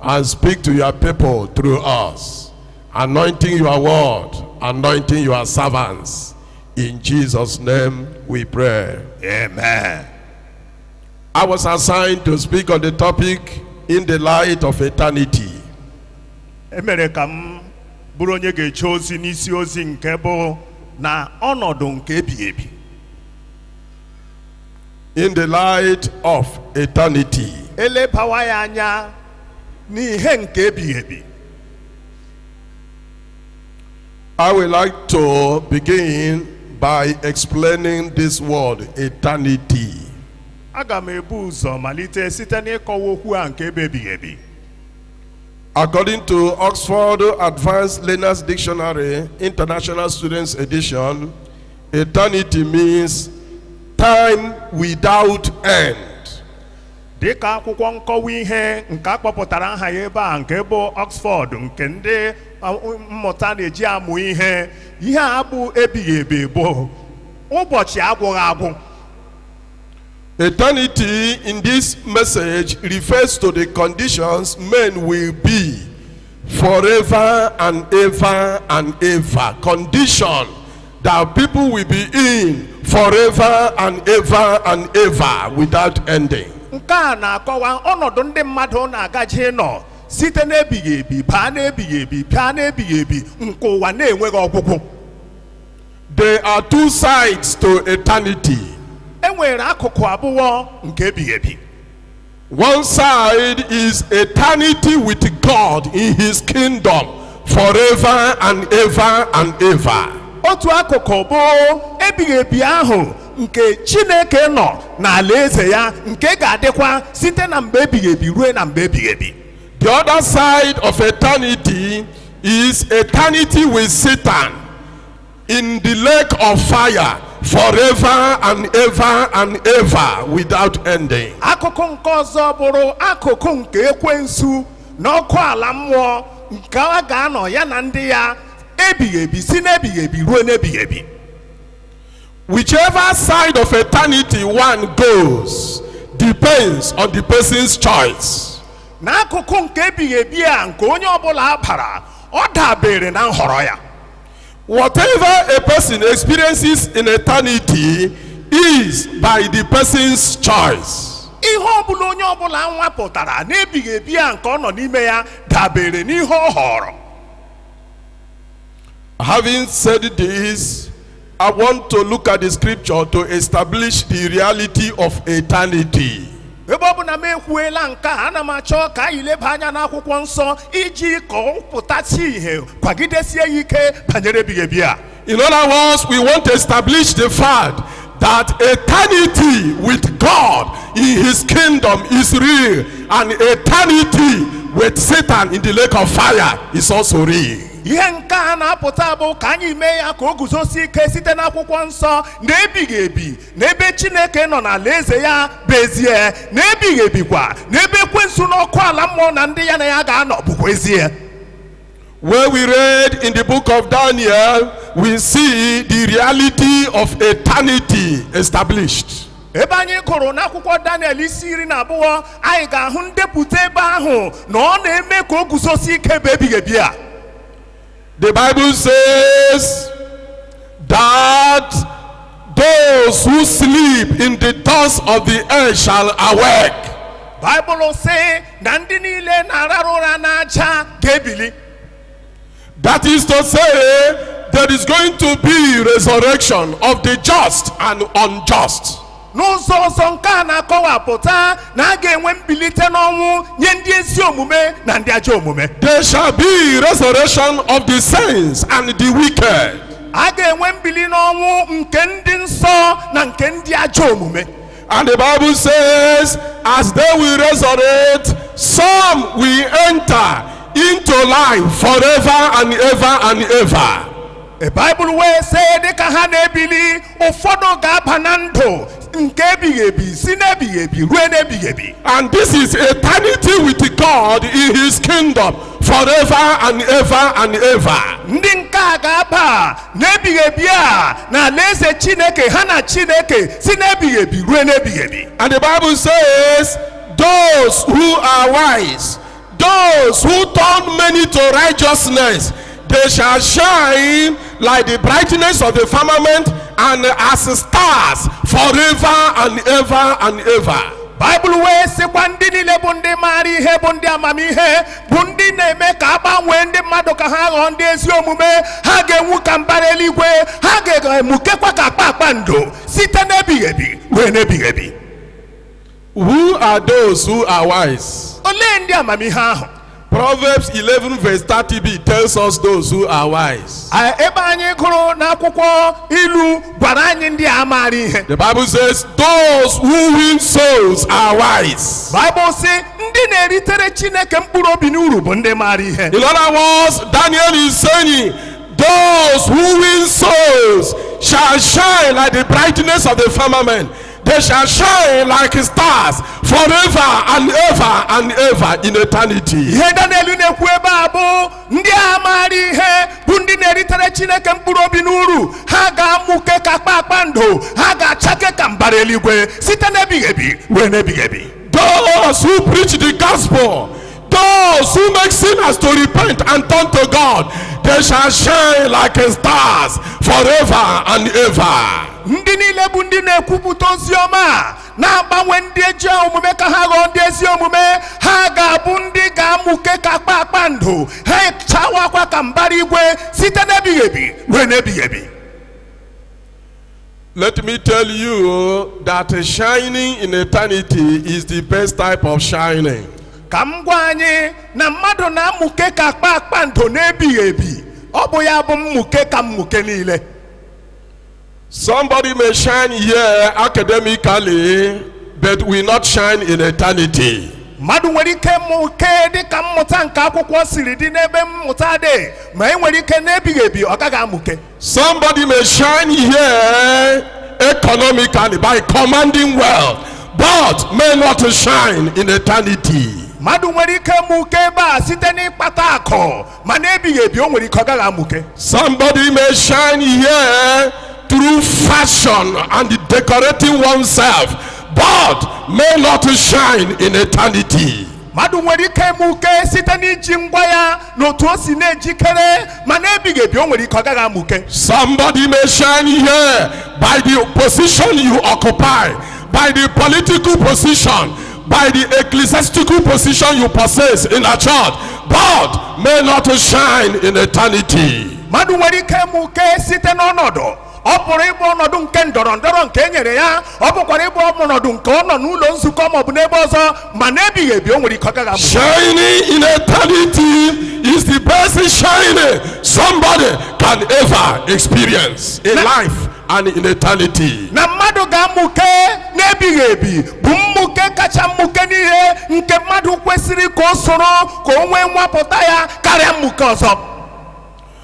and speak to your people through us, anointing your word, anointing your servants. In Jesus' name we pray. Amen. I was assigned to speak on the topic in the light of eternity. emere ka m bụrụ onye ga-eche ozi n'isi ozi nke bụ na ọnọdụ nke ebighị ebi in the light of eternity. elebawa ya anya n'ihe nke ebighị ebi I would like to begin by explaining this word eternity. aga m ebu ụzọ malite site n'ịkọwa okwu a nke bụ ebighị ebi According to Oxford Advanced Learners Dictionary, International Students Edition, Eternity means time without end. dị ka akwụkwọ nkọwa ihe nke a kpọpụtara aha ya ebe a nke bụ Oxford nke ndị uh, mmụta na-eji amụ ihe ihe a bụ ebighị ebi bụ ụbọchị agwụghị agwụ Eternity in this message refers to the conditions men will be forever and ever and ever condition that people will be in forever and ever and ever without ending. nke a na-akọwa ọnọdụ ndị mmadụ na-agaje ịnọ site n'ebighị ebi baa n'ebighị ebi baa n'ebighị ebi nke ụwa na-enweghị ọgwụgwụ There are two sides to eternity. e nwere akụkụ abụọ nke ebighị ebi One side is eternity with God in his kingdom forever and ever and ever. otu akụkụ bụ ebighị ebi ahụ nke chineke nọ n'ala eze ya nke ga-adịkwa site na mgbe ebighị ebi ruo na mgbe ebighị ebi The other side of eternity is eternity with Satan in the lake of fire forever and ever and ever without ending. akụkụ nke ọzọ bụrụ akụkụ nke ekwensu n'ọkụ ala mmụọ nke a ga-anọ ya na ndị ya ebighị ebi si n'ebighị ebi ruo n'ebighị ebi Whichever side of eternity one goes depends on the person's choice. n'akụkụ nke ebighị ebi a nke onye ọbụla bara ọ dabere na nhọrọ ya Whatever a person experiences in eternity is by the person's choice. ihe ọbụla onye ọbụla nwapụtara n'ebighị ebi a nke ọ nọ n'ime ya dabere n'ihe ọ họrọ Having said this, I want to look at the scripture to establish the reality of eternity. ebe ọ bụ na m ekwuela nke a ana m achọ ka anyị leba anya n'akwụkwọ nsọ iji ka ọ pụtasị ihe kwagidesie ya ike banyere ebighị ebi a In other words, we want to establish the fact that eternity with God in His kingdom is real, and eternity with Satan in the lake of fire is also real. ihe nke a na-apụta bụ ka anyị mee ya ka o guzosie ike site n'akwụkwọ nsọ na ebighị ebi n'ebe chineke nọ n'alaeze ya bụ ezie na ebighị ebikwa n'ebe ekwensu n'ọkụ ala mmụọ na ndị ya na ya ga-anọ bụkwa ezie When we read in the book of Daniel, we see the reality of eternity established. ebe anyị gụrụ n'akwụkwọ daniel isi iri na abụọ anyị ga-ahụ ndepụta ebe ahụ na ọ na-eme ka o guzosie ike bụ ebighị ebi a The Bible says that those who sleep in the dust of the earth shall awake. baịbụl sị na ndị niile na-ararụ ụra n'aja ga-ebili That is to say, there is going to be resurrection of the just and unjust. n'ụzọ ọzọ nke a na-akọwapụta na a ga-enwe mbilite n'ọnwụ nye ndị ezi omume na ndị ajọ omume There shall be resurrection of the saints and the wicked. a ga-enwe mbili n'ọnwụ nke ndị nsọ na nke ndị ajọ omume And the Bible says, as they will resurrect, some will enter into life forever and ever and ever. baịbụl wee sị dịka ha na-ebili ụfọdụ ga-aba na ndụ nke ebighị ebi si n'ebighị ebi rue n'ebighị ebi And this is eternity with God in his kingdom forever and ever and ever. ndị nke a ga-aba n'ebighị ebi a na alaeze chineke ha na chineke si n'ebighị ebi rue n'ebighị ebi And the Bible says, Those who are wise Those who turn many to righteousness, they shall shine like the brightness of the firmament and as stars forever and ever and ever. baịbụl wee sịkwa ndị niile bụ ndị maara ihe bụ ndị amamihe bụ ndị na-eme ka a gbanwee ndị mmadụ ka ha ghọọ ndị ezi omume ha ga-enwu ka mbara eluigwe ha ga-emukekwa ka kpakpando site n'ebighị ebi rue n'ebighị ebi Who are those who are wise? olee ndị amamihe ahụ Proverbs 11 verse 30b tells us those who are wise. A- ebe anyị gụrụ n'akwụkwọ ilu gwara anyị ndị a maara ihe The Bible says those who win souls are wise. baịbụl sị ndị na-eritere chineke mkpụrụ obi n'uru bụ ndị maara ihe In other words, Daniel is saying those who win souls shall shine like the brightness of the firmament. They shall shine like stars forever and ever and ever in eternity. ihe daniel na-ekwu ebe a bụ ndị ahụ maara ihe bụ ndị na-eritere chineke mkpụrụ obi n'uru ha ga-amụke ka kpakpando ha ga-achake ka mbara eluigwe site n'ebighị ebi ruo n'ebighị ebi Those who preach the gospel, those who make sinners to repent and turn to God, they shall shine like stars forever and ever. ndị niile bụ ndị na-ekwupụta ozi ọma a, na-agbanwe ndị ajọ omume ka ha ghọọ ndị ezi omume ha ga-abụ ndị ga-amụke ka kpakpando ha achawakwa ka mbara igwe site n'ebighị ebi ruo n'ebighị ebi Let me tell you that shining in eternity is the best type of shining. ka m gwa anyị na mmadụ na-amụke ka kpakpando n'ebighị ebi ọ bụ ya bụ mmụke ka mmụke niile Somebody may shine here academically, but will not shine in eternity. mmadụ nwere ike mụke dịka mmụta nke akwụkwọ siri dị n'ebe mmụta dị ma e nwere ike n'ebighị ebi ọ gaghị amụke Somebody may shine here economically by commanding wealth, but may not shine in eternity. mmadụ nwere ike mụke ebe a site n'ịkpata akụ ma n'ebighị ebi o nwere ike ọ gaghị amụke Somebody may shine here through fashion and decorating oneself, but may not shine in eternity. mmadụ nwere ike mụke site n'iji ngwa ya n'otu o si na-ejikere ma n'ebighị ebi o nwere ike ọ gaghị amụke Somebody may shine here by the position you occupy, by the political position, by the ecclesiastical position you possess in a church, but may not shine in eternity. mmadụ nwere ike mụke site n'ọnọdụ ọ pụrụ ịbụ ọnọdụ nke ndọrọ ndọrọ nke e nyere ya ọ pụkwara ịbụ ọnọdụ nke ọ nọ n'ụlọ nzukọ ma ọ bụ n'ebe ọzọ ma n'ebighị ebi o nwere ike ọ gaghị amụ Shining in eternity is the best shining somebody can ever experience in Na- life and in eternity. na mmadụ ga-amụke n'ebighị ebi bụ mmụke kacha mmụke n'ihe nke mmadụ kwesịrị ka o soro ka o nwee nwapụta ya karịa mmụke ọzọ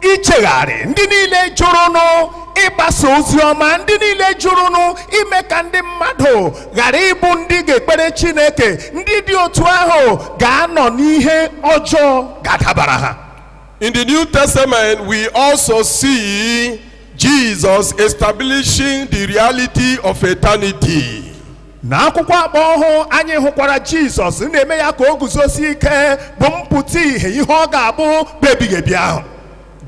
ichegharị ndị niile jụrụnụ ịgbasa ozi ọma ndị niile jụrụnụ ime ka ndị mmadụ ghara ịbụ ndị ga-ekpere chineke ndị dị otu ahụ ga-anọ n'ihe ọjọọ ga-adabara ha In the New Testament, we also see Jesus establishing the reality of eternity. n'akwụkwọ agba ọhụụ anyị hụkwara jizọs na-eme ya ka o guzosie ike bụ mpụta ihe ihe ọ ga-abụ bụ ebighị ebi ahụ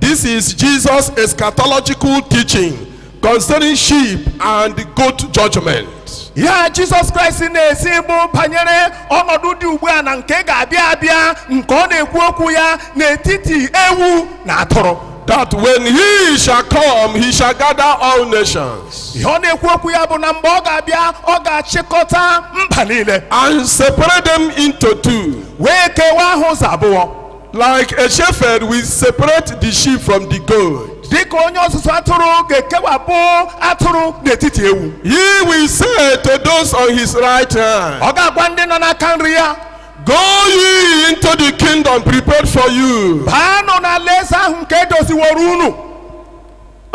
This is Jesus' eschatological teaching concerning sheep and goat judgment. ihe a jizọs kraịst na-ezi bụ banyere ọnọdụ dị ugbu a na nke ga-abịa abịa nke ọ na-ekwu okwu ya n'etiti ewu na atụrụ That when he shall come, he shall gather all nations. ihe ọ na-ekwu okwu ya bụ na mgbe ọ ga-abịa ọ ga-achịkọta mba niile and separate them into two. wee kewaa ha ụzọ abụọ Like a shepherd will separate the sheep from the goat. dịka onye ọzụzụ atụrụ ga-ekewapụ atụrụ n'etiti ewu He will say to those on his right hand, ọ ga-agwa ndị nọ n'aka nri ya Go ye into the kingdom prepared for you. baanụ n'alaeze ahụ nke edoziworo unu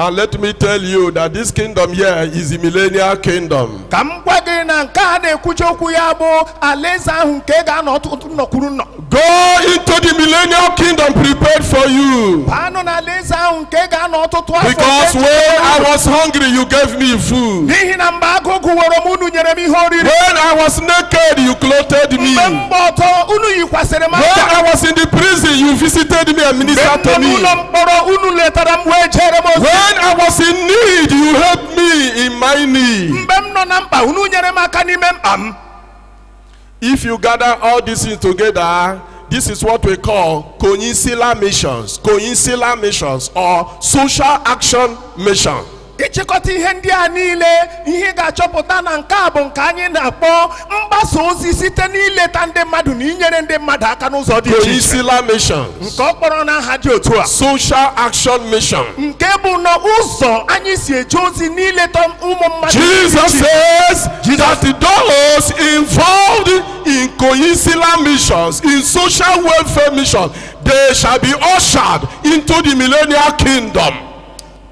And let me tell you that this kingdom here is the millennial kingdom. ka m gwa gị na nke a na-ekwuchi okwu ya bụ alaeze ahụ nke ga-anọ ọtụtụ nnu kwuru nnu Go into the millennial kingdom prepared for you. baanụ n'alaeze ahụ nke ị ga-anọ ọtụtụ afọ nke echebere unu Because when I was hungry, you gave me food. n'ihi na mgbe agụụ gụworo m unu nyere m ihe oriri When I was naked, you clothed me. mgbe m gba ọtọ unu yikwasịrị m akwa When I was in the prison, you visited me and ministered to me. mgbe m nọ n'ụlọ mkpọrọ unu letara m wee jere m ozi When I was in need, you helped me in my need. mgbe m nọ na mkpa unu nyere m aka n'ime mkpa m If you gather all these things together, this is what we call conciliar missions, conciliar missions or social action mission. ịchịkọta ihe ndị a niile ihe ị ga-achọpụta na nke a bụ nke anyị na-akpọ mgbasa ozi site n'ileta ndị mmadụ na inyere ndị mmadụ aka n'ụzọ dị iche iche Conciliar mission. nke ọ kpọrọ n'aha dị otu a Social Action Mission. nke bụ na ụzọ anyị si eje ozi n'ileta ụmụ mmadụ Jesus says that those involved in conciliar missions, in social welfare missions, they shall be ushered into the millennial kingdom.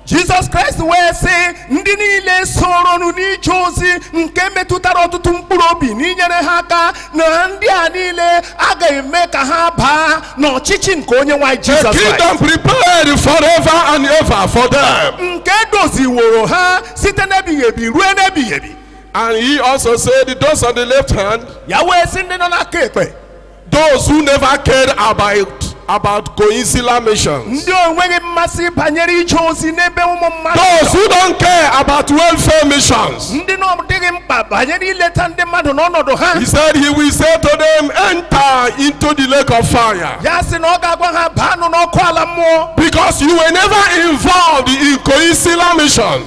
jizọs kraịst wee sị ndị niile soronụ n'ije ozi nke metụtara ọtụtụ mkpụrụ obi n'inyere ha aka na ndị a niile a ga-eme ka ha baa n'ọchịchị nke onyenwe anyị jizọs kraịst The kingdom prepared forever and ever for them. nke edoziworo ha site n'ebighị ebi ruo n'ebighị ebi And he also said, Those on the left hand, ya wee sị ndị nọ n'aka ekpe Those who never cared about about conciliar missions. ndị o nweghị mmasị banyere ije ozi n'ebe ụmụ mmadụ Those who don't care about welfare missions. ndị na ọ dịghị mkpa banyere ileta ndị mmadụ n'ọnọdụ ha He said he will say to them, enter into the lake of fire. ya sị na ọ ga-agwa ha baanụ n'ọkụ ala mmụọ Because you were never involved in conciliar missions.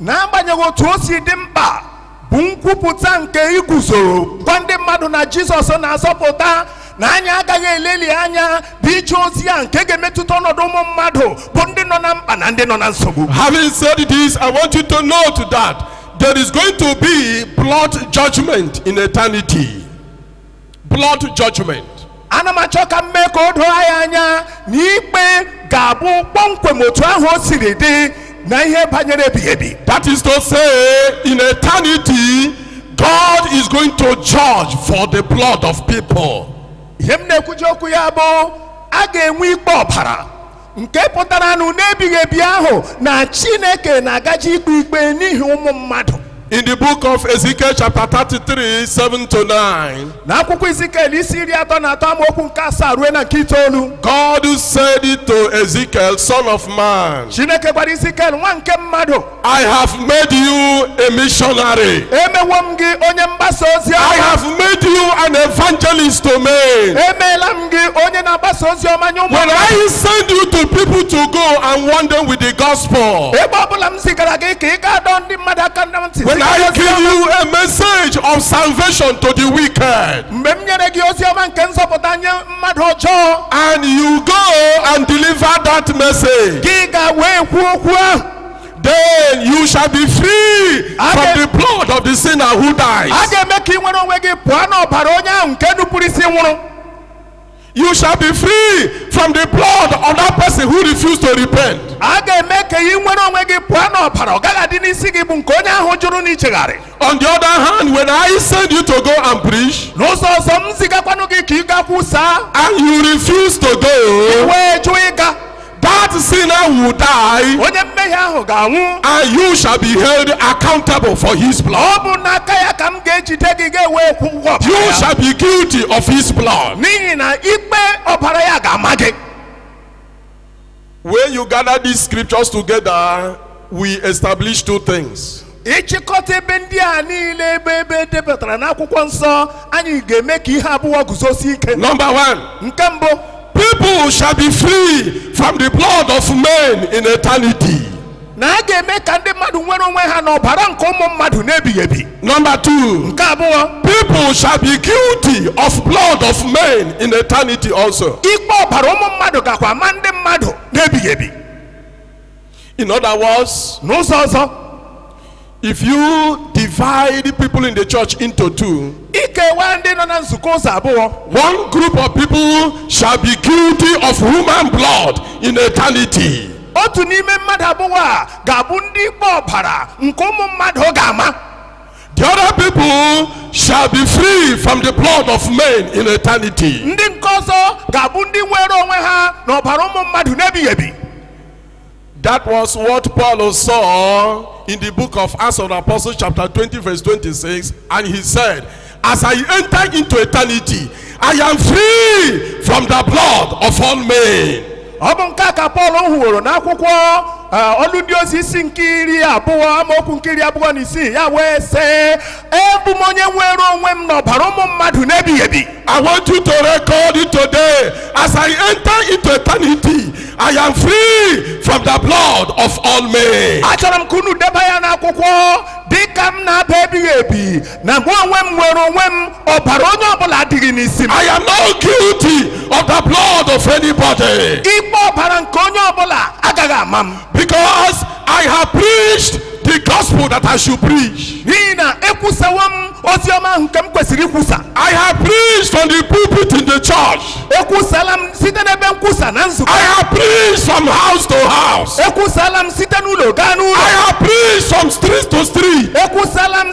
n'agbanyeghị otu o si dị mkpa bụ nkwupụta nke iguzoro gwa ndị mmadụ na jizọs na-azọpụta na anyị agaghị eleli anya bụ ije ozi ya nke ga-emetụta ọnọdụ ụmụ mmadụ bụ ndị nọ na mkpa na ndị nọ na nsogbu Having said this, I want you to note that there is going to be blood judgment in eternity. blood judgment. ana m achọ ka m mee ka o doo anyị anya na ikpe ga-abụ kpọmkwem otu ahụ o siri dị na ihe banyere ebighị ebi That is to say, in eternity, God is going to judge for the blood of people. ihe m na-ekwuji okwu ya bụ a ga-enwe ikpe ọbara nke pụtara na n'ebighị ebi ahụ na chineke na-agaji ikpe ikpe n'ihi ụmụ mmadụ In the book of Ezekiel, chapter 33, 7 to 9, na akwụkwọ izikiel isi iri atọ na atọ amaokwu nke asaa ruo na nke itoolu God said it to Ezekiel, Son of man. chineke gwara izikiel nwa nke mmadụ I have made you a missionary. emewo m gị onye mgbasa ozi ọma I have made you an evangelist to men. emeela m gị onye na-agbasa ozi ọma nye ụmụ When I send you to people to go and warn them with the gospel, ebe ọbụla m zigara gị ka ị gaa dọọ ndị mmadụ aka na ntị zigara ozi ọma. when I give you a message of salvation to the wicked, mgbe m nyere gị ozi ọma nke nzọpụta nye mmadụ ọjọọ and you go and deliver that message, gị gaa wee kwuo okwu ahụ Then you shall be free from the blood of the sinner who dies. a ga-eme ka ị nwere onwe gị pụọ n'ọbara onye ahụ nke nupụrụ isi nwụrụ You shall be free from the blood of that person who refused to repent. a ga-eme ka ị nwere onwe gị pụọ n'ọbara ọ gaghị adị n'isi gị bụ nke onye ahụ jụrụ ichegharị On the other hand, when I send you to go and preach n'ụzọ ọzọ m zigakwanụ gị ka ị gaa kwusaa and you refuse to go, wee jụ ịga That sinner will die. Onye mmehie ahụ ga-anwụ. And you shall be held accountable for his blood. Ọ bụ n'aka ya ka m ga-ejide gị ga-ewe kwụọ ụgwọ. You shall be guilty of his blood. N'ihi na ikpe ọbara ya ga-ama gị. When you gather these scriptures together, we establish two things. ị chịkọta ebe ndị a niile ebe ebe e depụtara n'akwụkwọ nsọ anyị ga-eme ka ihe abụọ guzosie ike Number one, nke mbụ people shall be free from the blood of men in eternity. na a ga-eme ka ndị mmadụ nwere onwe ha n'ọbara nke ụmụ mmadụ n'ebighị ebi Number two, nke abụọ people shall be guilty of blood of men in eternity also. ikpe ọbara ụmụ mmadụ gakwa ama ndị mmadụ n'ebighị ebi In other words, n'ụzọ ọzọ if you divide the people in the church into two, i kewa ndị nọ na nzukọ ụzọ abụọ one group of people shall be guilty of human blood in eternity. otu n'ime mmadụ abụọ a ga-abụ ndị ikpe ọbara nke ụmụ mmadụ ga-ama The other people shall be free from the blood of men in eternity. ndị nke ọzọ ga-abụ ndị nwere onwe ha n'ọbara ụmụ mmadụ n'ebighị ebi That was what Paul saw in the book of Acts of the Apostles, chapter 20, verse 26. And he said, As I enter into eternity, I am free from the blood of all men. ọ bụ nke a ka pọl hụworo n'akwụkwọ eh, ọlụ ndị ozi isi nke iri abụọ amaokwu nke iri abụọ na isii ya wee sị abụ m onye nwere onwe m n'ọbara ụmụ mmadụ n'ebighị ebi I want you to record it today. As I enter into eternity, I am free from the blood of all men. achọrọ m ka unu deba ya n'akwụkwọ dị ka m na-aba ebighị ebi na mụ onwe m nwere onwe m ọbara onye ọbụla adịghị n'isi m I am not guilty of the blood of anybody. ikpe ọbara nke onye ọbụla agaghị ama m Because I have preached the gospel that I should preach. n'ihi na ekwusawo m ozi ọma ahụ nke m kwesịrị ikwusa I have preached on the pulpit in the church. ekwusala m site n'ebe nkwusa na nzukọ I have preached from house to house. ekwusala m site n'ụlọ gaa n'ụlọ I have preached from street to street. ekwusala m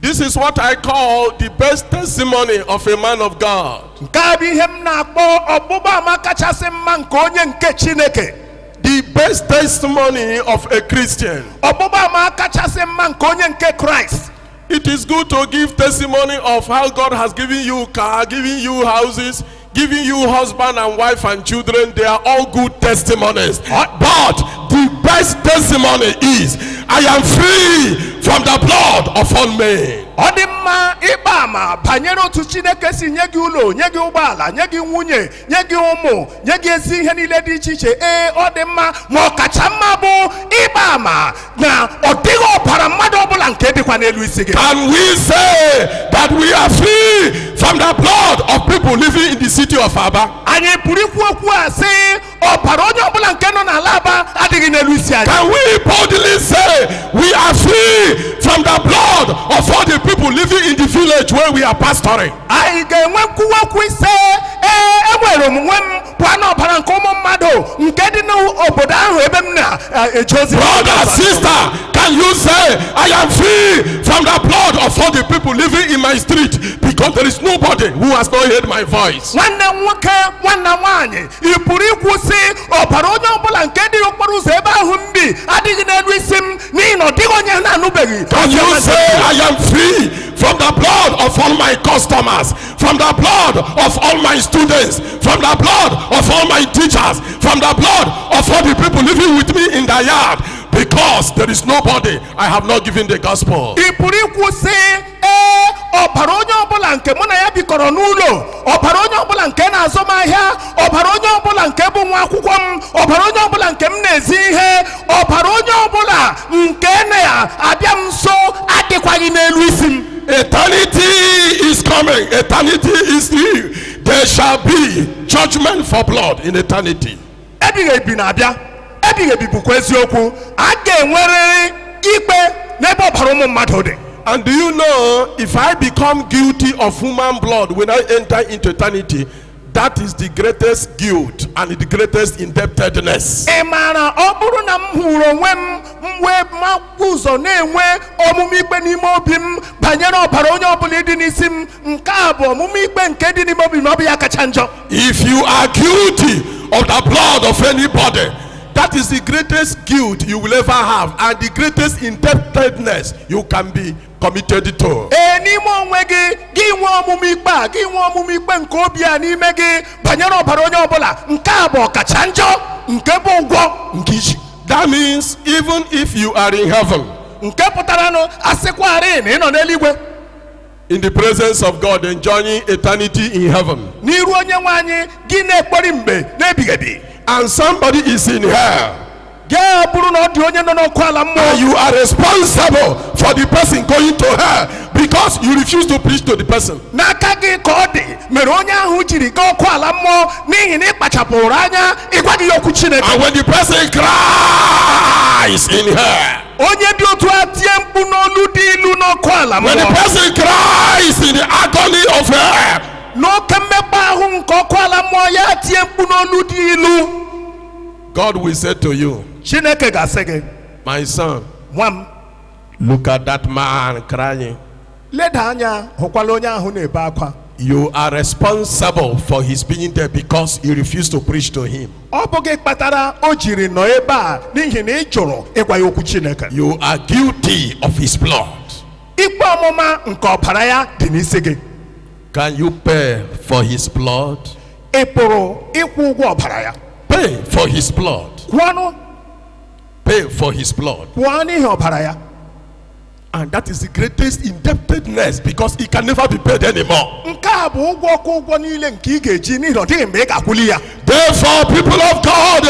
This is what I call the best testimony of a man of God. nke a bụ ihe m na-akpọ ọgbụgba ama kachasị mma nke onye nke chineke The best testimony of a Christian. ọgbụgba ama kachasị mma nke onye nke kraịst It is good to give testimony of how God has given you car, given you houses, given you husband and wife and children, they are all good testimonies. But the best testimony is, I am free from the blood of all men. ọ dị mma ịgba ama banyere otu chineke si nye gị ụlọ nye gị ụgbọala nye gị nwunye nye gị ụmụ nye gị ezi ihe niile dị iche iche ee ọ dị mma ma ọ kacha mma bụ ịgba ama na ọ dịghị ọbara mmadụ ọbụla nke dịkwa n'elu isi gị Can we say that we are free from the blood of people living in the city of Aba? anyị pụrụ ikwu okwu a sị ọbara onye ọbụla nke nọ n'ala aba adịghị n'elu isi anyị Can we boldly say we are free from the blood of all the people living in the village where we are pastoring? anyị ga-enwe nkwuwa okwu ịsị ee enwere m onwe m pụọ n'ọbara nke ụmụ mmadụ nke dị n'obodo ahụ ebe m na-eje ozi Brother, sister, can you say, I am free from the blood of all the people living in my street because there is nobody who has not heard my voice? nwanne m nwoke nwanne m nwaanyị ị pụrụ ikwu sị ọbara onye ọbụla nke dị okporo ụzọ ebe ahụ m bi adịghị n'elu isi m n'ihi na ọ dịghị onye na-anụbeghị Can you say, I am free from the blood of all my customers? from the blood of all my students, from the blood of all my teachers, from the blood of all the people living with me in the yard, because there is nobody I have not given the gospel. ị pụrụ ikwu sị ee ọbara onye ọbụla nke mụ na ya bikọrọ n'ụlọ ọbara onye ọbụla nke na-azụ m ahịa ọbara onye ọbụla nke bụ nwa akwụkwọ m ọbara onye ọbụla nke m na-ezi ihe ọbara onye ọbụla nke na-abịa m nso adịkwaghị n'elu isi m Eternity is coming. Eternity is here. There shall be judgment for blood in eternity. ebighị ebi na-abịa ebighị ebi bụkwa eziokwu a ga-enwerịrị ikpe n'ebe ọbara ụmụ mmadụ dị And do you know if I become guilty of human blood when I enter into eternity, That is the greatest guilt and the greatest indebtedness. ị maara ọ bụrụ na m hụrụ onwe m m wee mapụ ụzọ na-enwe ọmụma ikpe n'ime obi m banyere ọbara onye ọbụla dị n'isi m nke a bụ ọmụma ikpe nke dị n'ime obi m na ọ bụ ya kacha njọ If you are guilty of the blood of anybody, that is the greatest guilt you will ever have and the greatest indebtedness you can be committed to. ee n'ime onwe gị gị nwee ọmụma ikpe a gị nwee ọmụma ikpe nke obi a n'ime gị banyere ọbara onye ọbụla nke a bụ ọkacha njọ nke bụ ụgwọ nke i ji That means even if you are in heaven, nke pụtaranụ a sịkwarị na ị nọ n'eluigwe in the presence of God, enjoying eternity in heaven, n'iru onye nwe anyị gị na-ekpori mgbe n'ebighị ebi and somebody is in hell, Ya bụrụ na ọ dị onye nọ n'ọkụ ala mmụọ. And you are responsible for the person going to hell because you refuse to preach to the person. N'aka gị ka ọ dị mere onye ahụ jiri gaa ọkụ ala mmụọ n'ihi na ị kpachapụrụ anya ịgwaghị ya okwu Chineke. And when the person cries in hell. Onye dị otu a tie mkpu n'olu dị ilu n'ọkụ ala mmụọ. When the person cries in the agony of hell. N'oke mmekpa ahụ nke ọkụ ala mmụọ ya tie mkpu n'olu dị ilu. God will say to you, Chineke ga-asị gị, My son, nwa m, look at that man crying. leda anya hụkwala onye ahụ na-ebe akwa. You are responsible for his being there because you refused to preach to him. Ọ bụ gị kpatara o jiri nọ ebe a n'ihi na ị jụrụ ịgwa ya okwu Chineke. You are guilty of his blood. Ikpe ọmụma nke ọbara ya dị n'isi gị. Can you pay for his blood? ị pụrụ ịkwụ ụgwọ ọbara ya Pay for his blood. kwụọnụ Pay for his blood. kwụọ n'ihi ọbara ya And that is the greatest indebtedness because it can never be paid anymore. nke a bụ ụgwọ ka ụgwọ niile nke ị ga-eji n'ihi na ọ dịghị mgbe ị ga-akwụli ya Therefore, people of God,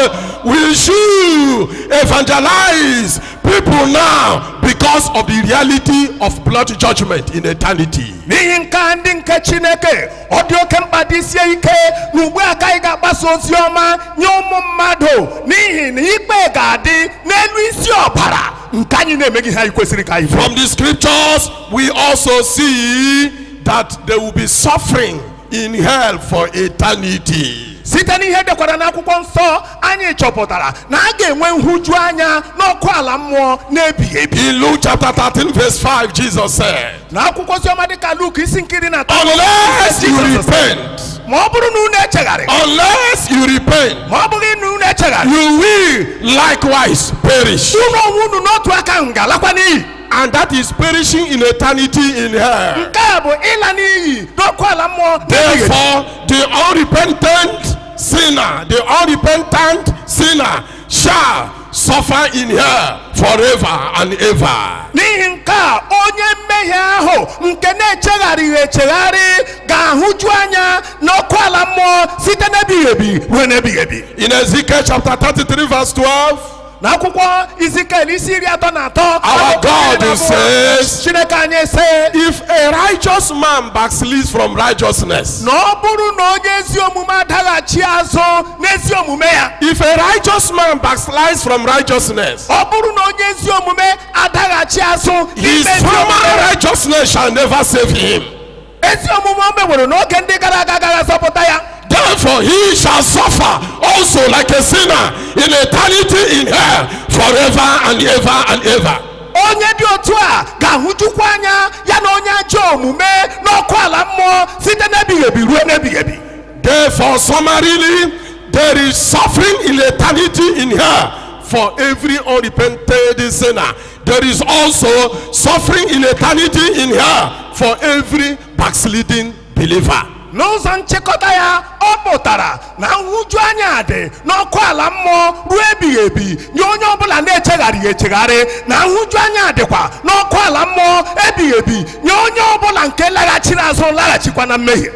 we should evangelize people now because of the reality of blood judgment in eternity. n'ihi nke a ndị nke chineke ọ dị oke mkpa dịsie ike na ugbu a ka anyị ga-agbasa ozi ọma nye ụmụ mmadụ n'ihi na ikpe ga-adị n'elu isi ọbara nke anyị na-emeghị ihe anyị kwesịrị ka anyị fụọ. From the scriptures, we also see that there will be suffering in hell for eternity. site n'ihe e dekwara n'akwụkwọ nsọ anyị chọpụtara na a ga-enwe nhụju anya n'ọkụ ala mmụọ n'ebighị ebi In Luke chapter 13, verse 5, Jesus said, n'akwụkwọ oziọma dịka luk isi nke iri na atọ Unless you repent, ma ọ bụrụ na unu echegharị unless you repent, ma ọ bụghị na unu echegharị you will likewise perish. unu onwe unu n'otu aka ahụ ga-alakwa n'iyi And that is perishing in eternity in hell. nke a bụ ịla n'iyi n'ọkụ ala mmụọ n'ebighị ebi. Therefore, the unrepentant sinner, the unrepentant sinner shall suffer in hell forever and ever. n'ihi nke a onye mmehie ahụ nke na-echegharịghị echegharị ga-ahụju anya n'ọkụ ala mmụọ site n'ebighị ebi ruo n'ebighị ebi In Ezekiel chapter 33, verse 12, n'akwụkwọ izikiel isi iri atọ na atọ amaokwu iri na abụọ, Our God says- chineke anyị sị if a righteous man backslides from righteousness, na ọ bụrụ na onye ezi omume adaghachi azụ n'ezi omume ya If a righteous man backslides from righteousness, ọ bụrụ na onye ezi omume adaghachi azụ n'ime ezi omume, his former righteousness shall never save him. ezi omume o meworo n'oge ndị gara aga agaghị azọpụta ya Therefore, he shall suffer also like a sinner in eternity in hell forever and ever and ever. onye dị otu a ga-ahụjukwa anya ya na onye ajọ omume n'ọkụ ala mmụọ site n'ebighị ebi ruo n'ebighị ebi Therefore, summarily, there is suffering in eternity in hell for every unrepented sinner. There is also suffering in eternity in hell for every backsliding believer. n'ụzọ nchịkọta ya ọ pụtara na nhụjuanya dị n'ọkụ ala mmụọ ruo ebighị ebi nye onye ọbụla na-echegharịghị echegharị na nhụjuanya dịkwa n'ọkụ ala mmụọ ebighị ebi nye onye ọbụla nke laghachiri azụ laghachikwa na mmehie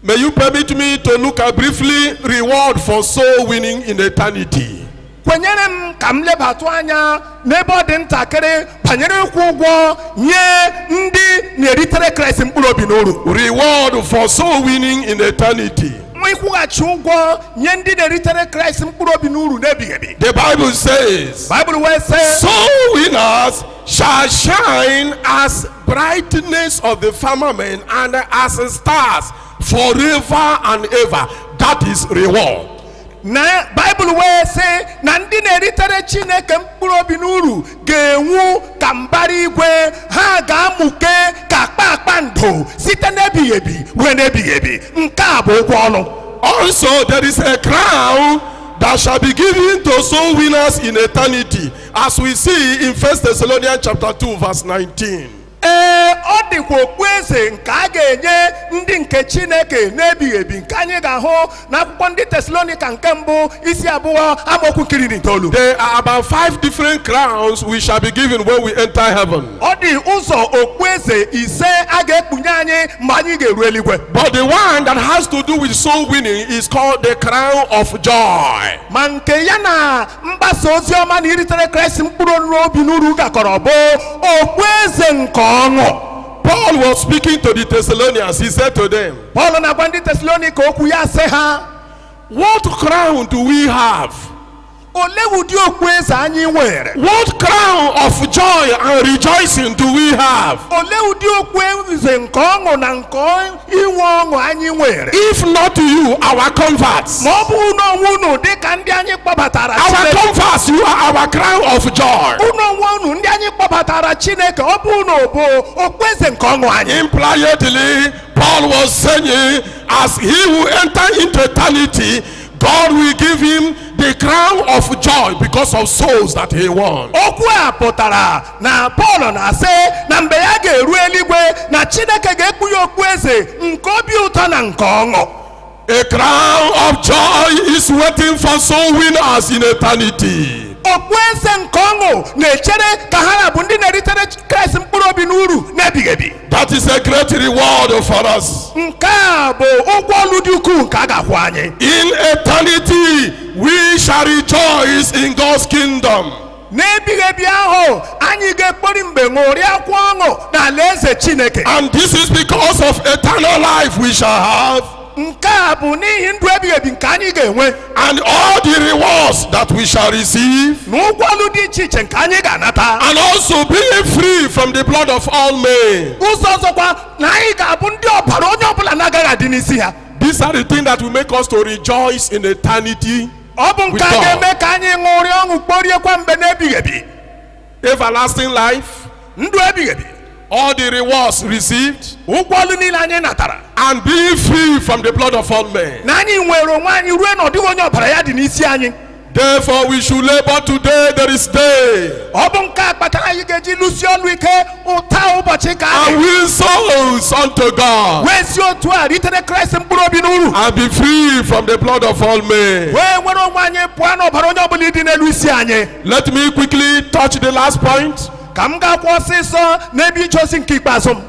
May you permit me to look at briefly reward for soul winning in eternity. kwenyere m ka m lebatụ anya n'ebe ọ dị ntakịrị banyere ịkwụ ụgwọ nye ndị na-eritere kraịst mkpụrụ obi n'uru Reward for soul winning in eternity. ịkwụghachi ụgwọ nye ndị na-eritere kraịst mkpụrụ obi n'uru n'ebighị ebi The Bible says, baịbụl wee sị Soul winners shall shine as brightness of the firmament and as stars forever and ever. That is reward. na baịbụl wee sị na ndị na-eritere chineke mkpụrụ obi n'uru ga-enwu ka mbara igwe ha ga-amụke ka kpakpando site n'ebighị ebi ruo n'ebighị ebi nke a bụ ụgwọ ọlụ Also, there is a crown that shall be given to soul winners in eternity. As we see in 1 Thessalonians chapter 2 verse 19. ee ọ dịkwa okpueze nke a ga-enye ndị nke chineke n'ebighị ebi nke anyị ga-ahụ n'akwụkwọ ndị tesalonika nke mbụ isi abụọ amaokwu nke iri na itoolu There are about five different crowns we shall be given when we enter heaven. ọ dị ụzọ okpueze ise a ga-ekpunye anyị mgbe anyị ga-eru eluigwe But the one that has to do with soul winning is called the crown of joy. ma nke ya na mgbasa ozi ọma na iritere kraịst mkpụrụ n'uru obi n'uru gakọrọ bụ okpueze nke ọṅụ Paul was speaking to the Thessalonians. He said to them, pọl na-agwa ndị tesalonika okwu ya sị ha What crown do we have? olee ụdị okpueze anyị nwere What crown of joy and rejoicing do we have? olee ụdị okpueze nke ọṅụ na nke inwe ọṅụ anyị nwere If not you, our converts. ma ọ bụghị unu onwe unu dị ka ndị anyị kpọbatara Chineke Our converts, you are our crown of joy. unu onwe unu ndị anyị kpọbatara Chineke ọ bụ unu bụ okpueze nke ọṅụ anyị Impliedly, Paul was saying, as he will enter into eternity, God will give him the crown of joy because of souls that he won. okwu a pụtara na pọl na-asị na mgbe ya ga-eru eluigwe na chineke ga-ekpu ya okpueze nke obi ụtọ na nke ọṅụ A crown of joy is waiting for soul winners in eternity. okpueze nke ọṅụ na-echere ka ha ra bụ ndị na-eritere kraịst mkpụrụ obi n'uru n'ebighị ebi That is a great reward for us. nke a bụ ụgwọ ọlụ dị ukwuu nke a ga-akwụ anyị In eternity, we shall rejoice in God's kingdom. n'ebighị ebi ahụ anyị ga-ekpori mgbe ṅụrịakwa ọṅụ n'alaeze chineke And this is because of eternal life we shall have, nke a bụ n'ihi ndụ ebighị ebi nke anyị ga-enwe and all the rewards that we shall receive, na ụgwọ ọlụ dị iche iche nke anyị ga-anata and also being free from the blood of all men. ụzọ ọzọkwa na anyị ga-abụ ndị ọbara onye ọbụla na-agaghị adị n'isi ha These are the things that will make us to rejoice in eternity. ọ bụ nke a With God. ga-eme ka anyị ṅụrịa ọṅụ kporiekwa mgbe n'ebighị ebi Everlasting life, ndụ ebighị ebi all the rewards received, ụgwọ ọlụ niile anyị natara and be free from the blood of all men. na anyị nwere onwe anyị ruo na ọ dịghị onye ọbara ya dị n'isi anyị Therefore, we should labor today, there is day. ọ bụ nke a kpatara anyị ga-eji lụsie ọlụ ike ụta ụbọchị nke ahụ and win souls unto God wee si otu a ritere kraịst mkpụrụ obi n'uru and be free from the blood of all men. wee nwere onwe anyị pụọ n'ọbara onye ọbụla ịdị n'elu isi anyị Let me quickly touch the last point. ka m gaakwa ọsịsọ n'ebe ije ozi nke ikpeazụ m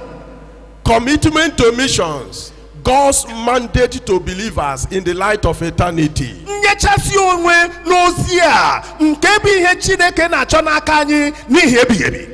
Commitment to missions, God's mandate to believers in the light of eternity. inyechasị onwe n'ozi a nke bụ ihe chineke na-achọ n'aka anyị n'ihi ebighị ebi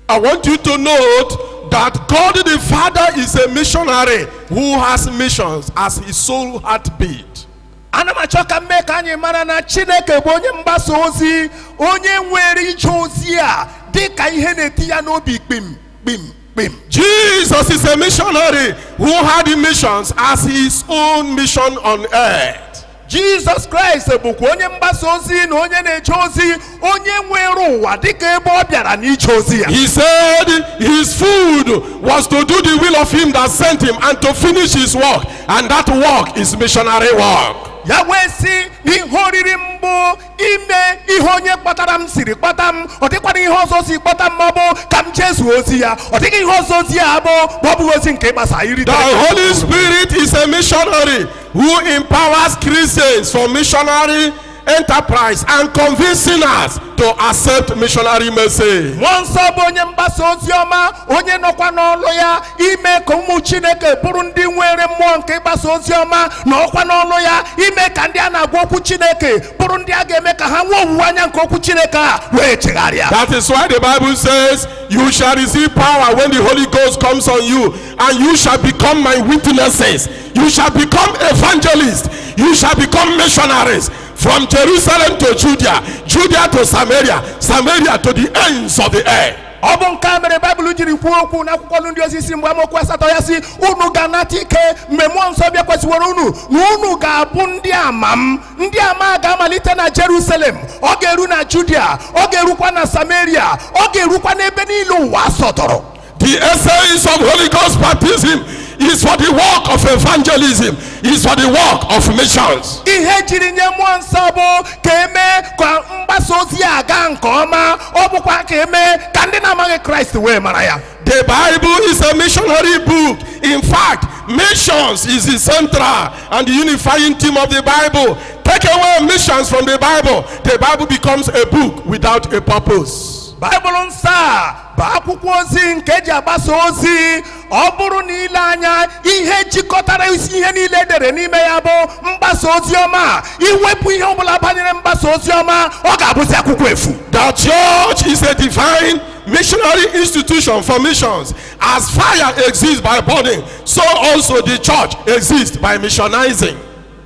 I want you to note that God the Father is a missionary who has missions as his sole heartbeat. ana m achọ ka m mee ka anyị mara na chineke bụ onye mgbasa ozi onye nwere ije ozi a dị ka ihe na-eti ya n'obi kpim kpim kpim Jesus is a missionary who had missions as his own mission on earth. jizọs kraịst bụkwa onye mgbasa ozi na onye na-eje ozi onye weere ụwa dịka ebe ọ bịara n'ije ozi ya He said his food was to do the will of him that sent him and to finish his work, and that work is missionary work. ya wee sị na ihe oriri m bụ ime ihe onye kpọtara m siri kpọta m ọ dịkwara ihe ọzọ o si kpọta m ma ọ bụ ka m jezuo ozi ya ọ dịghị ihe ọzọ ozi ya bụ ma ọ bụghị ozi nke ịgbasa iri The Holy Spirit is a missionary who empowers Christians for missionary enterprise and convince sinners to accept missionary message. mmụọ nsọ bụ onye mgbasa ozi ọma onye nọkwa n'ọlụ ya ime ka ụmụ chineke bụrụ ndị nwere mmụọ nke ịgbasa ozi ọma nọkwa n'ọlụ ya ime ka ndị a na-agwa okwu chineke bụrụ ndị a ga-eme ka ha nwee owuwe anya nke okwu chineke a wee chegharịa That is why the Bible says, You shall receive power when the Holy Ghost comes on you, and you shall become my witnesses. You shall become evangelists. You shall become missionaries from Jerusalem to Judea, Judea to Samaria, Samaria to the ends of the earth. ọ bụ nke a mere baịbụl jiri kwuo okwu n'akwụkwọ ọlụ ndị ozi isi mbụ amaokwu asatọ ya sị unu ga-anata ike mgbe mmụọ nsọ bịakwasịworo unu na unu ga-abụ ndị ama m ndị ama a ga-amalite na jerusalem ọ ga-eru na judia ọ ga-erukwa na samaria ọ ga-erukwa n'ebe niile ụwa sọtụrụ The essence of Holy Ghost baptism is for the work of evangelism, is for the work of missions. ihe ejiri nye mmụọ nsọ bụ ka emee ka mgbasa ozi a gaa nke ọma ọ bụkwa ka emee ka ndị na-amaghị kraịst wee mara ya The Bible is a missionary book. In fact, missions is the central and the unifying theme of the Bible. Take away missions from the Bible, the Bible becomes a book without a purpose. baịbụl nsọ a bụ akwụkwọ ozi nke eji agbasa ozi ọ bụrụ na i lee anya ihe jikọtara isi ihe niile edere n'ime ya bụ mgbasa ozi ọma i wepụ ihe ọbụla banyere mgbasa ozi ọma ọ ga-abụzi akwụkwọ efu The church is a divine missionary institution for missions. As fire exists by burning, so also the church exists by missionizing.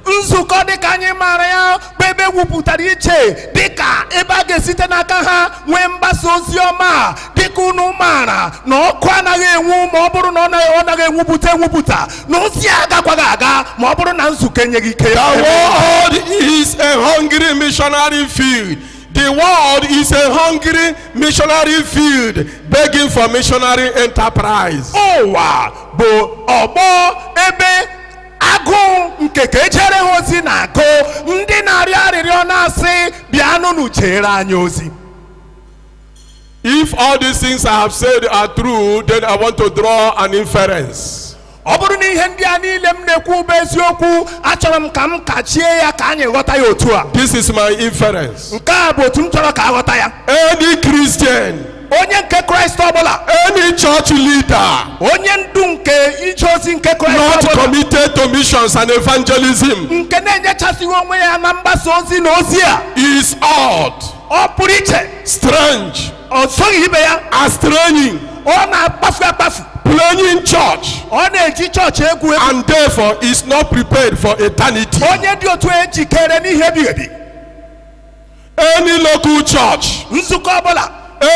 nzukọ dịka anyị maara ya bụ ebe ewupụtara iche dịka ebe a ga-esite n'aka ha nwee mgbasa ozi ọma dịka unu maara na ọkụ anaghị enwu ma ọ bụrụ na ọ na- ọ naghị enwupụta enwupụta na ozi a agakwaghị aga ma ọ bụrụ na nzukọ enyeghị ike ya The world is a hungry missionary field. The world is a hungry missionary field begging for missionary enterprise. ụwa bụ ọgbọ ebe agụụ nke ka ejeere ha ozi na-agụ ndị na-arịọ arịrịọ na-asị bịanụnụ jeere anyị ozi If all these things I have said are true, then I want to draw an inference. ọ bụrụ na ihe ndị a niile m na-ekwu bụ eziokwu achọrọ m ka m kachie ya ka anyị ghọta ya otu a This is my inference. nke a bụ otu m chọrọ ka a ghọta ya Any Christian onye nke kraịst ọbụla any church leader onye ndu nke ije ozi nke kraịst ọbụla not committed to missions and evangelism nke na-enyechasịghị onwe ya na mgbasa ozi na ozi a is odd, ọ pụrụ iche strange, o soghị ibe ya is straying, ọ na-akpafu akpafu playing church, ọ na-eji chọọchị egwu egwu and therefore is not prepared for eternity. onye dị otu a ejikereghị n'ihe ebighị ebi any local church nzukọ ọbụla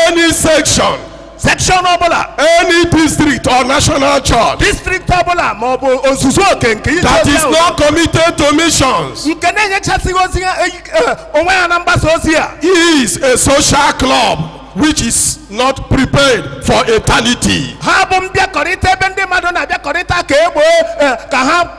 any section sekshọn ọbụla any district or national church district ọbụla ma ọ bụ ozuzu oke nke ije ozi ahụ that is not committed to missions nke na-enyechasịghị ozi ya eyi- eh, onwe ya na mgbasa ozi a is a social club which is not prepared for eternity. ha bụ mbịakọrịta ebe ndị mmadụ na-abịakọrịta ka e gboo eh, ka ha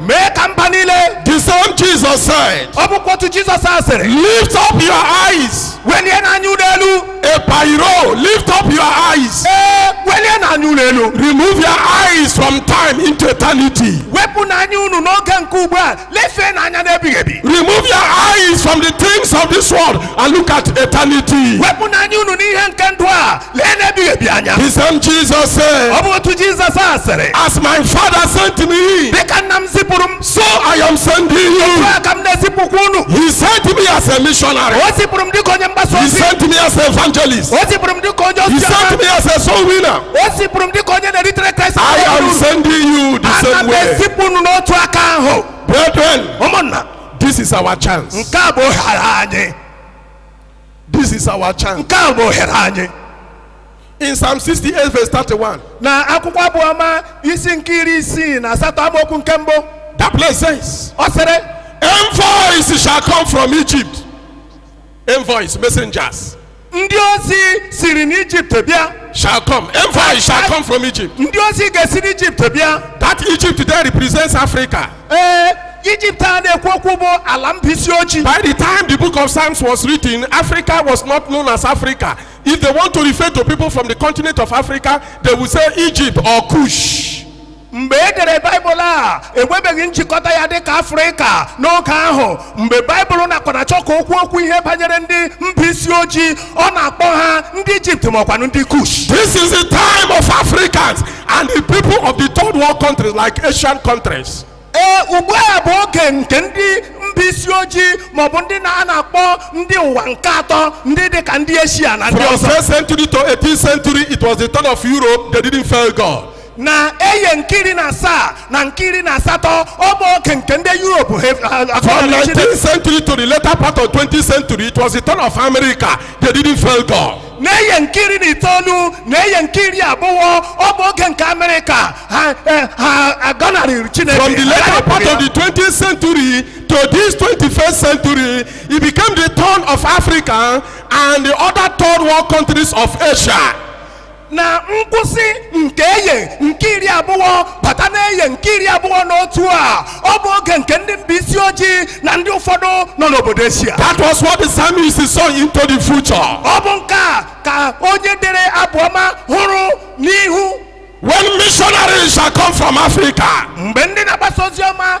mee ka mba niile The same Jesus said, ọ bụkwa otu jizọs a sịrị Lift up your eyes. welienụ anya unu elu Epairo, lift up your eyes. ee welienụ anya unu elu Remove your eyes from time into eternity. wepụnụ anya unu n'oge nke ugbu a lefeenụ anya n'ebighị ebi Remove your eyes from the things of this world and look at eternity. wepụnụ anya unu n'ihe nke ndụ a leenụ ebighị ebi anya The same Jesus said, ọ bụ otu jizọs a sịrị As my Father sent me, dịka nna m zipụrụ m so I am sending you. a ka m na-ezipụkwa unu He sent me as a missionary. o zipụrụ m dịka onye mgbasa ozi He sent me as an evangelist. o zipụrụ m dịka onye ozi ọma He sent me as a soul winner. o zipụrụ m dịka onye na-eritere kraịst uru I am sending you the same way. ana m ezipụ unu n'otu aka ahụ Brethren, ụmụnna this is our chance. nke a bụ ohere anyị This is our chance. nke a bụ ohere anyị In Psalm 68, verse 31, na akwụkwọ abụọma isi nke iri isii na asatọ amaokwu nke mbụ that place says, ọ sịrị Envoys shall come from Egypt. Envoys, messengers, ndị ozi siri n'ijipt bịa shall come. Envoys shall come from Egypt. ndị ozi ga-esi n'ijipt bịa That Egypt there represents Africa. ee ijipt a na-ekwu okwu bụ ala mba isi ojii By the time the book of Psalms was written, Africa was not known as Africa. If they want to refer to people from the continent of Africa, they will say Egypt or Kush. mgbe e dere baịbụl a enwebeghị njikọta ya dịka afrịka n'oge ahụ mgbe baịbụl na-akwa na-achọ ka o kwuo okwu ihe banyere ndị mba isi ojii ọ na-akpọ ha ndị ijipt maọkwanụ ndị kush This is the time of Africans and the people of the third world countries like Asian countries. ee ugbu a bụ oge nke ndị mba isi ojii maọbụ ndị na a na-akpọ ndị ụwa nke atọ ndị dị ka ndị eshia na ndị ọzọ From 1st century to 18th century, it was the turn of Europe. They didn't fail God. na eye nke iri na asaa na nke iri na asatọ ọ bụ oge nke ndị Europe ha- ha- ha- From 19th century to the later part of 20th century, it was the turn of America. They didn't fail God. n'eye nke iri na itoolu na eye nke iri abụọ ọ bụ oge nke amerịka ha eh, ha agọnarịghị chineke agọnarịghị ya From the later part of the 20th century to this 21st century, it became the turn of Africa and the other third world countries of Asia. na nkwụsị nke eye nke iri abụọ bata n'eye nke iri abụọ na otu a ọ bụ oge nke ndị mba isi ojii na ndị ụfọdụ nọ n'obodo eshia That was what the psalmist saw into the future. ọ bụ nke a ka onye dere abụọma hụrụ n'ihu When missionaries shall come from Africa, mgbe ndị na-agbasa ozi ọma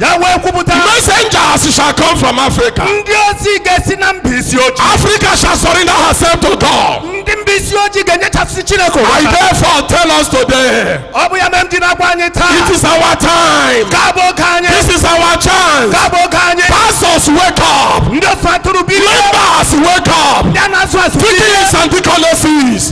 ya wee kwupụta Messengers shall come from Africa. ndị ozi ga-esi na mba isi ojii Africa shall surrender herself to God. ndị mba isi ojii ga-enyechasị chineke onwe ha. I therefore tell us today, ọ bụ ya mere m ji na-agwa anyị taa it is our time. nke a bụ oge anyị This is our chance. nke a bụ oge anyị Pastors, wake up. ndị oche atụrụ bilie Members, wake up. ndị a na-azụ azụ bilie Deacons and deaconesses,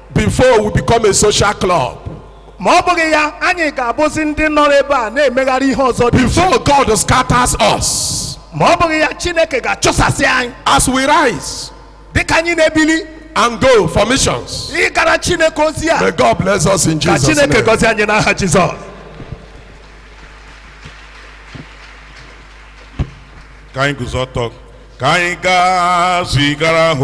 before we become a social club. ma ọ bụghị ya anyị ga-abụzi ndị nọrọ ebe a na-emegharị ihe ọzọ dị iche. Before God scatters us, ma ọ bụghị ya chineke ga-achụsasị anyị as we rise dịka anyị na-ebili and go for missions, n'ịgara chineke ozi a may God bless us in Jesus' name. ka chineke gọzie anyị n'aha jizọs ka anyị guzo ọtọ ka anyị gaa zigara ha